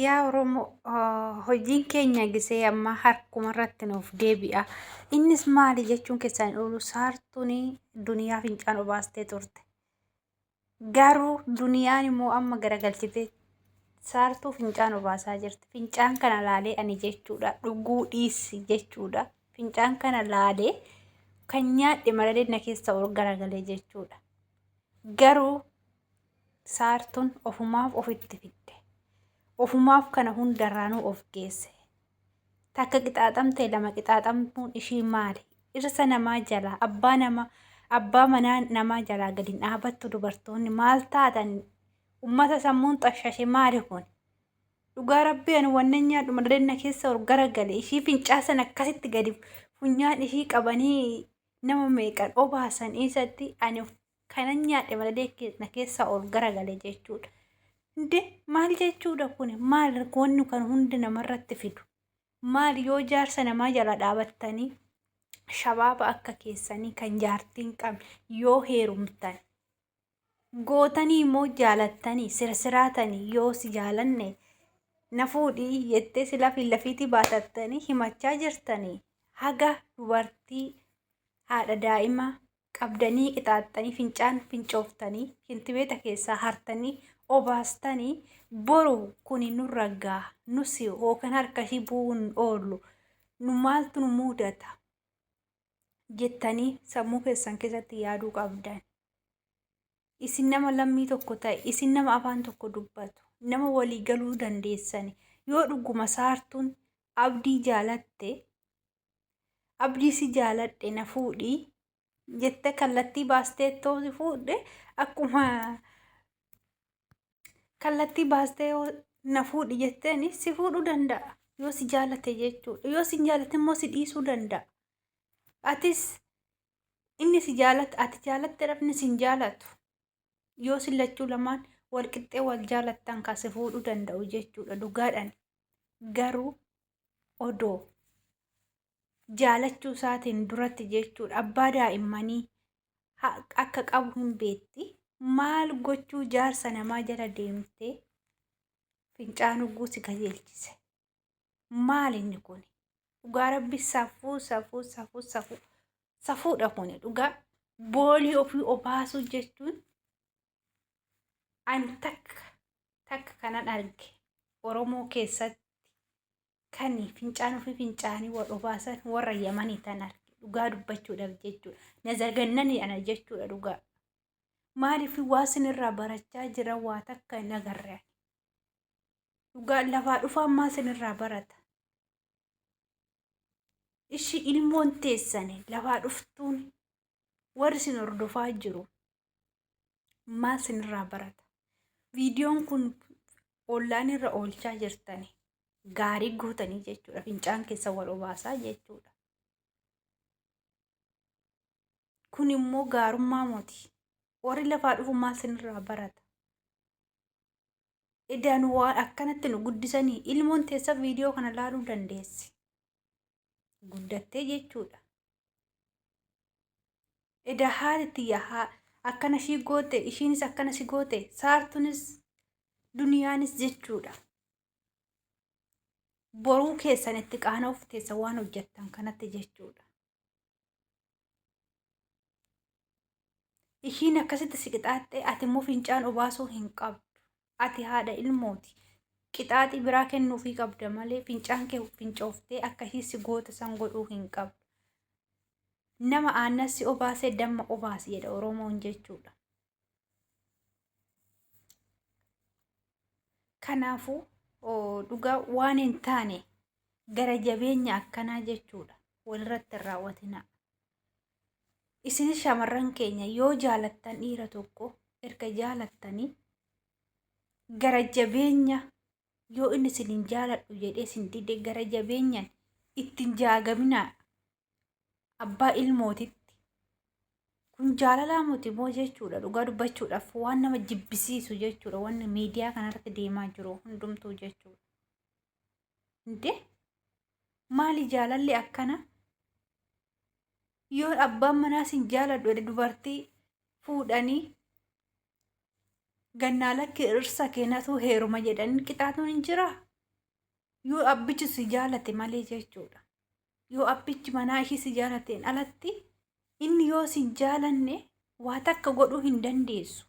Yaa Oromoo hojiin keenya gisee amma harkuma irratti nuuf deebi'a. Innis maali jechuun keessaan hin oolu saartuun duniyaa fincaan obaastee turte. Garuu duniyaan immoo amma garagalchitee saartuu fincaan obaasaa jirti. Fincaan kana laalee ani jechuudha dhuguu dhiisi jechuudha. Fincaan kana laalee kan nyaadhe malee na keessa ol garagalee jechuudha. Garuu Saartuun ofumaaf ofitti fidde. Ofumaaf kana hundarraanuu of geesse. Takka qixaaxamtee lama qixaaxamtuun ishii maali? Dhirsa namaa jalaa abbaa nama abbaa manaa namaa jalaa gadi hin dhaabattu dubartoonni maal taatan ummata sammuun xashashe maali kun? Dhugaa rabbii ani wannan nyaadhu malee na keessa ol garagale ishii fincaasan akkasitti gadi funyaan ishii qabanii nama meeqan obaasan isatti ani kanan nyaadhe malee na keessaa ol garagale jechuudha. Inde maal jechuudha kun maal rakkoonni kan hundi namarratti fidu maal yoo jaarsa namaa jala dhaabattanii shabaaba akka keessanii kan jaartiin qabne yoo heerumtan gootanii immoo jaalattanii sirsiraatanii yoo si jaalanne na fuudhii jettee si lafii lafiitii baatattanii himachaa jirtanii haga dubartii haadha daa'imaa qabdanii qixaaxxanii fincaan fincooftanii shintibeeta keessaa hartanii obaastanii boru kuni nurra gaha nusi yookaan harka ishii bu'uun oollu nu maaltu nu mudata jettanii sammuu keessan keessatti yaaduu qabdan. Isin nama lammii tokko ta'e, isin nama afaan tokko dubbatu, nama walii galuu dandeessani. Yoo dhuguma saartuun abdii jaalatte abdii si jaaladhe na fuudhi jette kallattii baastee too si fuudhe akkuma kallattii baastee yoo na fuudhi jetteen si fuudhuu danda'a yoo si jaalate jechuudha yoo si hin jaalate immoo si dhiisuu danda'a atis inni si jaalata ati jaalatte dhabni si hin jaalatu yoo sin lachuu lamaan wal qixxee wal jaalattan kan si fuudhuu danda'u jechuudha dhugaadhaan garuu odoo jaalachuu isaatiin duratti jechuudha abbaa daa'immanii akka qabu hin beekti maal gochuu jaarsa namaa jala deemtee fincaan ugguu si qajeelchise maal inni kun dhugaa rabbi safuu safuu safuu safuu safuudha kun dhugaa boolii ofii obaasuu jechuun an takka takka kanan arge oromoo keessatti kan fincaan ofii fincaanii wal obaasan warra yamanii tan arge dhugaa dubbachuudhaaf jechuudha na zagannanii ana jechuudha dhugaa maaliif waa sinirraa barachaa jira waa takka hin agarre dhugaan lafaa dhufa ammaa isinirraa barata ishi ilmoon teessani lafaa dhuftuun warri isin hordofaa jiru ammaa isinirraa barata viidiyoon kun ollaan irra oolchaa jirtani gaarii gootanii jechuudha fincaan keessa wal obaasaa jechuudha kun immoo gaarummaa moti warri lafaa dhufummaa isinirraa barata Idaan waan akkanatti nu guddisanii ilmoon teessa viidiyoo kana laaluu dandeessi. Guddattee jechuudha. Idaa haati tiyya haa akkana ishii goote ishiinis akkana si goote saartunis duniyaanis jechuudha. Boruu keessan itti qaana'uuf teessa waan hojjettan kanatti jechuudha. ishiin akkasitti si qixaaxxee ati immoo fincaan obaasuu hin qabdu ati haadha ilmooti qixaaxii biraa kennuufii qabda malee fincaan kee fincooftee akka ishii si goote san godhuu hin qabdu nama aannan si obaasee damma obaasi jedha oromoon jechuudha Kanaafuu dhugaa waan hin taane gara jabeenya akkanaa jechuudha walirratti hin raawwatinaa. Isinis shamarran keenya yoo jaalattan dhiira tokko erga jaalattanii gara jabeenya yoo inni isin hin jaaladhu jedhee isin dide gara jabeenyaan ittiin jaagaminaa abbaa ilmootitti kun jaalalaa miti moo jechuudha dhugaa dubbachuudhaaf waan nama jibbisiisu jechuudha wanni miidiyaa kanarratti deemaa jiru hundumtuu jechuudha. Indee maali jaalalli akkana yoo abbaan manaa sin jaaladhu jedhe dubartii fuudhanii gannaa lakki irsa keenatu heeruma jedhanii qixaatuun hin jiraa yoo abbichi si jaalate malee jechuudha. Yoo abbichi manaa ishii si jaalateen alatti inni yoo si hin jaalanne waa takka godhuu hin dandeessu.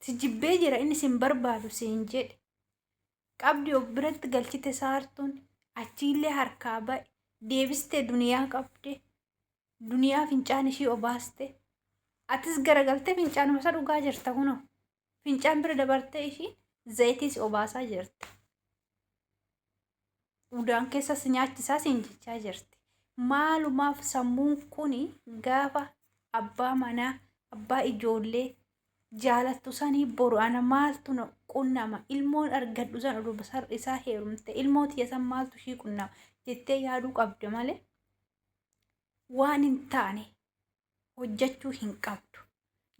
Si jibbee jira inni si hin barbaadu si hin jedhe. Qabdi of biratti galchite saartuun achiillee harkaa ba'e deebistee duniyaa qabde duniyaa fincaan ishii obaaste atis garagaltee fincaanuma isa dhugaa jirta kunoo. Fincaan bira dabartee ishiin zayitiis obaasaa jirti. Udaan keessas nyaachisaa siin jechaa jirti. Maalumaaf sammuun kun gaafa abbaa manaa, abbaa ijoollee jaalattu sanii boru ana maaltu na qunnama ilmoon argadhu san oduu basarri isaa heerumte ilmoo tiyya san maaltu ishii qunnama jettee yaaduu qabda malee waan hin taane hojjachuu hin qabdu.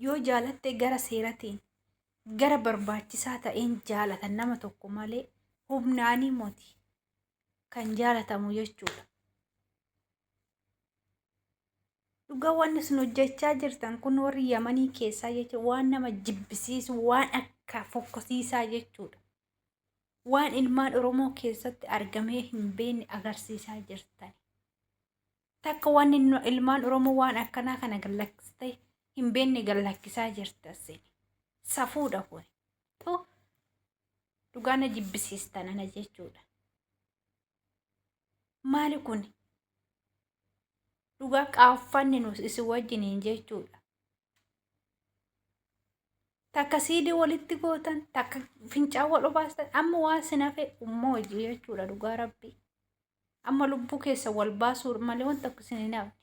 Yoo jaalatte gara seeratiin, gara barbaachisaa ta'een jaalatan nama tokko malee humnaanii moti kan jaalatamu jechuudha. Dhugaa waan isin hojjechaa jirtan kun warri yamanii keessaa jechuun waan nama jibbisiisu waan akka fokkosiisaa jechuudha. Waan ilmaan Oromoo keessatti argamee hin beekne agarsiisaa jirtan. Takka waan inni- ilmaan Oromoo waan akkanaa kana gallakkistee hin beekne gallakkisaa jirti asini. Safuudha kun. Tu dhugaa na jibbisiistan ana jechuudha. Maali kun? Dhugaa qaaffanni nus isin wajjiniin jechuudha. Takka siidii walitti gootan, takka fincaan wal obaastan, amma waan sin hafe ummoo hojii jechuudha dhugaa rabbii. Amma lubbuu keessa wal baasuu malee wanta tokko isin hin hafne.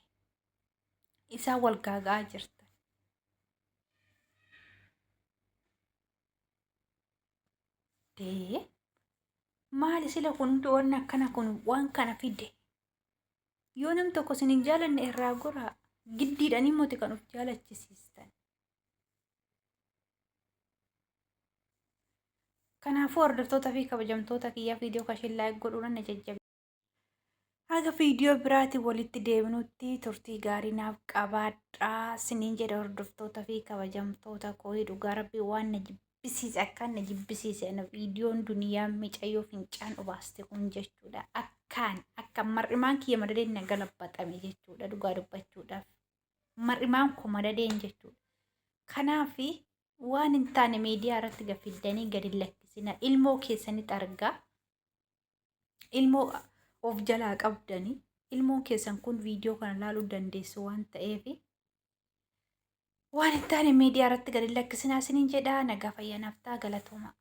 Isaa wal gaaga'aa jirta. Dee maali sila kun hundi wanni akkana kun waan kana fide. Yoo nam tokko isin hin jaalanne irraa goraa giddiidhaan immoo kan of jaalachisiistan. Kanaafuu hordoftoota fi kabajamtoota kiyyaa viidiyoo kashin laayik godhuudhaan na jajjabe. Haga viidiyoo biraatiin walitti deebinutti turtii gaarii naaf qabaadhaa siniin jedha hordoftoota fi kabajamtoota kooyi dhugaa rabbii waan na jibbisiise akkaan na jibbisiise ana viidiyoon duniyaa micayyoo fincaan obaaste kun jechuudha akkaan akka mar'imaan kiyya madaleen na galabbaxame jechuudha dhugaa dubbachuudhaaf. mar'imaan koo madadeen jechuudha. Kanaaf waan hin taane miidiyaa irratti gafiddanii gadi lakkisina ilmoo keessanitti argaa ilmoo of jalaa qabdanii ilmoon keessan kun viidiyoo kana laaluu dandeessu waan ta'eef waan hin taane miidiyaa irratti gadi lakkisinaa isiniin jedha nagaa fayyaa naaf ta'a galatoomaa.